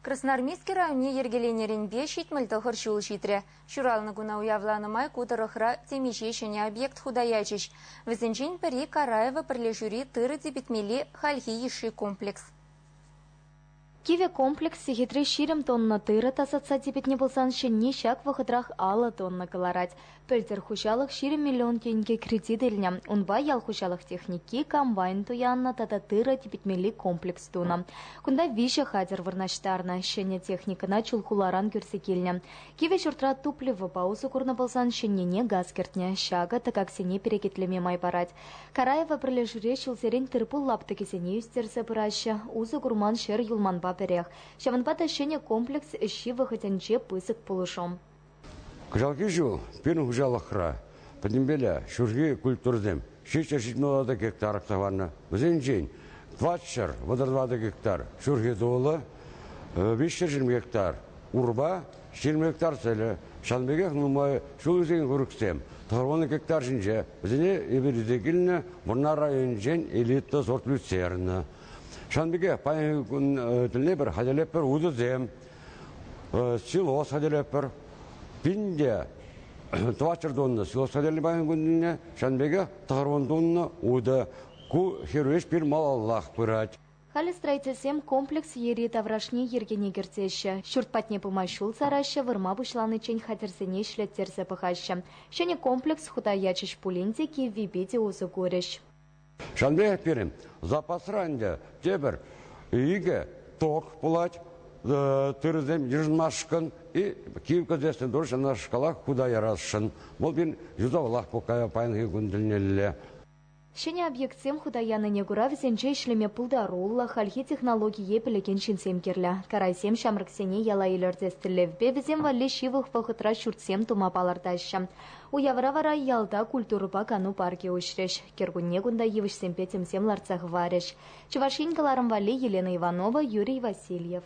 Красноармейски районне йӗркеленӗренпе ҫитмӗл тӑхӑр ҫул ҫитрӗ. Ҫуралнӑ куна уявланӑ май ку тӑрӑхра темиҫе ҫӗнӗ объект хута ячӗҫ. Вӗсенчен пӗри Караево пӗрлешӳри тырӑ типӗтмелли хальхи йышши комплекс. Кивӗ комплекс сехетре ҫирӗм тонна тырӑ тасатса типӗтнӗ пулсан ҫӗнни ҫак вӑхӑтрах алӑ тонна кӑларать. Пӗлтӗр хуҫалӑх ҫирӗм миллион тенкӗ кредит илнӗ. Унпа ял хуҫалӑх техники, комбайн туяннӑ тата тырӑ типӗтмелли комплекс тунӑ. Кунта виҫӗ хатӗр вырнаҫтарнӑ. Ҫӗнӗ техникӑна Чулхуларан кӳрсе килнӗ. Кивӗ ҫуртра топливӑпа усӑ курнӑ пулсан ҫӗннине газ кӗртнӗ. Ҫакӑ тӑкаксене перекетлеме май парать. Караево пӗрлешӳре ҫулсерен тырпул лаптӑкӗсене ӳстерсе пыраҫҫӗ. Усӑ курман ҫӗр юлманпа пӗрех. Ҫавӑнпа та ҫӗнӗ комплекс ӗҫҫи вӑхӑтӗнче пысӑк пулӑшу. Кӑҫалхи ҫул пирӗн хуҫалӑхра пӗтӗмпеле ҫурхи культурӑсем ҫиччӗр ҫитме тӑватӑ гектар тӑванӑ. Вӗсенчен двадцать вӑтӑр тӑватӑ гектар ҫурхи тулӑ, виҫҫӗр ҫирӗм гектар урпа, ҫирӗм гектар сӗлӗ, ҫавӑн пекех нумай ҫул ӳсен курӑксем тӑхӑрвунӑ гектар ҫинче. Вӗсене эпир илсе килнӗ Вӑрнар районӗнчен элита сорт люцерна. Ҫавӑн пекех паянхи кун тӗлне пӗр хатӗрлетпӗр утӑсем, Силос хатӗрлетпӗр. Пин те тӑваттӑр тонна силос хатӗрлӗ паян кунне, ҫавӑн пекех тӑхӑрвун тонна утӑ. Ку хӗрӳ ӗҫ пир малаллах пырать. Халӗ строительсем комплекс йӗри-таврашне йӗркене кӗртеҫҫӗ, ҫурт патне пыма ҫул сараҫҫӗ, вырма пуҫланиччен хатӗрсене ӗҫлеттерсе пӑхаҫҫӗ. Ҫӗнӗ комплекс хута ячӗҫ пулин те киввипе те усӑ курӗҫ. Шанчах пирӗн запасра ӗнтӗ тепӗр икӗ ток пулать. Тырӑсем йышӑнмашкӑн и кив кӗтессӗн тӑрӑш ӑна шкалах хута ярасшӑн. Вӑл пин юсавлах пукая паянхи кун тӗлнелле. Ҫӗнӗ объектсем хута янине кура вӗсенче ӗҫлеме пултаруллӑ, хальхи технологие пӗлекен ҫынсем кирлӗ. Карайсем ҫамрӑксене яла илӗртес тӗллевпе вӗсем валли ҫывӑх вӑхӑтра ҫуртсем тума палӑртаҫҫӗ. Уявра вара ялта культурӑпа кану паркӗ уҫрӗҫ. Кӗркунне кунта йывӑҫсемпе тӗмсем лартса хӑварӗҫ. Чӑваш Ен кӑларӑм валли Елена Иванова, Юрий Васильев.